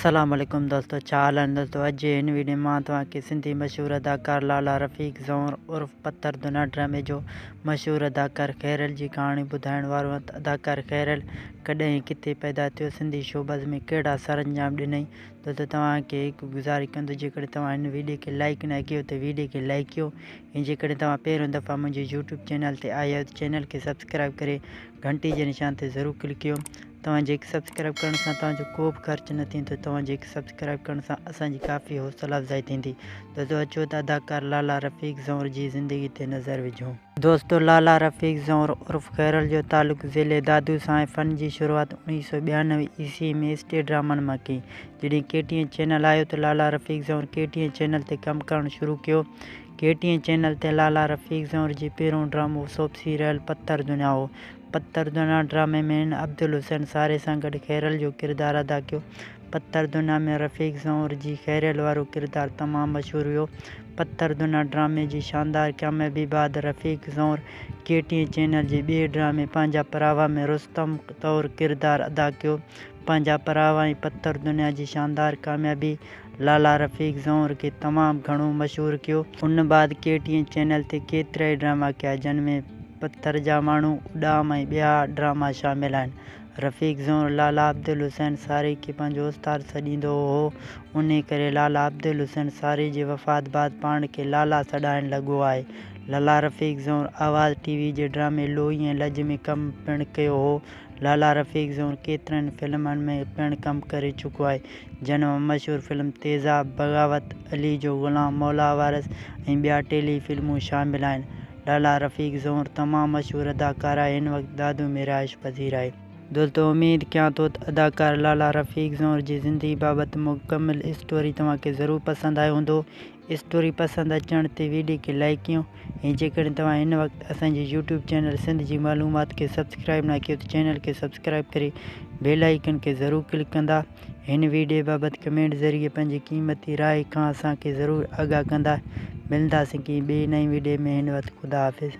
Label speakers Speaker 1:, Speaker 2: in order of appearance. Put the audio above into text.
Speaker 1: السلام عليڪم دوستو ڇا حال آهن دوستو اڄ جي هن ويڊيو مان توهان کي سنڌي مشهور اداڪار لالا رفيق زئور عرف پٿر دنا ڊرامي جو مشهور اداڪار خيريل جي ڪهاڻي ٻڌائڻ وارو آهيان ته اداڪار خيريل ڪڏهن ۽ ڪٿي پيدا ٿيو سنڌي شوبز ۾ ڪهڙا سرانجام ڏنائين دوستو توهان کي هڪ گذارش ڪندو جيڪڏهن توهان هن ويڊيو کي لائيڪ نه ڪيو ته ويڊيو کي لائيڪ ڪيو ۽ جيڪڏهن توهان پهريون دفعا منهنجي يوٽيوب چينل تي آيا آهيو ته چينل کي سبسڪرائيب ڪري گهنٽي جي نشان تي ضرور ڪلڪ ڪيو توهان جي هڪ سبسڪرائيب ڪرڻ سان توهان جو ڪو به خرچ نه ٿيندو توهان جي هڪ سبسڪرائيب ڪرڻ سان اسان جي ڪافي حوصلا افزائي ٿيندي دوستو اچو ته اداڪار لالا رفيق زئونر جي زندگي تي نظر وجهون. دوستو لالا رفيق زئونر عرف خيرل جو تعلق ضلعي دادو سان آهي فن جي شروعات اوڻيهه سؤ ٻيانوي عيسوي ۾ اسٽيج ڊرامن مان ڪئي جڏهن ڪي ٽي اين چينل آيو ته Lala Rafiq Zaunar K T N channel تي ڪم ڪرڻ شروع ڪيو ڪي ٽي اين چينل تي لالا رفيق زئونر جي پهريون ڊرامو سوڀ سيريل پتر دنيا هو. پتر دنيا ڊرامي ۾ هن عبدالحسين ساري سان گڏ خيريل جو ڪردار ادا ڪيو. پتر دنيا ۾ رفيق زئونر جي خيريل وارو ڪردار تمام مشهور ويو. پتر دنيا ڊرامي جي شاندار ڪاميابي بعد Rafiq Zaunar K T N channel جي ٻئي ڊرامي پنهنجا پراوا ۾ رستم طور ڪردار ادا ڪيو. پنهنجا پراوا ۽ پتر دنيا جي شاندار ڪاميابي لالا رفيق زئونر کي تمام گهڻو مشهور ڪيو. ان بعد ڪي ٽي اين چينل تي ڪيترائي ڊراما ڪيا جن ۾ پٿر جا ماڻهو، اڏام ۽ ٻيا ڊراما شامل آهن. رفيق زئونر لالا عبدالحسين ساري کي پنهنجو استاد سڏيندو هو. انهي ڪري لالا عبدالحسين ساري جي وفات بعد پاڻ کي لالا سڏائڻ لڳو آهي. لالا رفيق زئونر آواز ٽي وي جي ڊرامي لوئي ۽ لڄ ۾ ڪم پڻ ڪيو هو. لالا رفيق زئونر ڪيترن ئي فلمن ۾ پڻ ڪم ڪري چڪو آهي. جنھن مان مشھور فلم تيزاب، بغاوت، علي جو غلام، مولا وارث ۽ ٻيا ٽيلي فلمون شامل آھن. لالا رفيق زئونر تمام مشھور اداڪار آھي ھن وقت دادو ۾ رھائش پذير آھي. دوستو اميد ڪيان ٿو ته اداڪار لالا رفيق زئونر جي زندگي بابت مڪمل اسٽوري توھان کي ضرور پسند آيو ھوندو. اسٽوري پسند اچڻ تي ويڊيو کي لائيڪ ڪيون ۽ جيڪڏهن توهان هن وقت اسان جي يوٽيوب چينل سنڌ جي معلومات کي سبسڪرائيب نه ڪيو ته چينل کي سبسڪرائيب ڪري بيل آئيڪن کي ضرور ڪلڪ ڪندا هن ويڊيو بابت ڪمينٽ ذريعي پنهنجي قيمتي راء کان اسان کي ضرور آگاهه ڪندا ملنداسين ڪنهن ٻي نئين ويڊيو ۾ هن وقت خدا حافظ.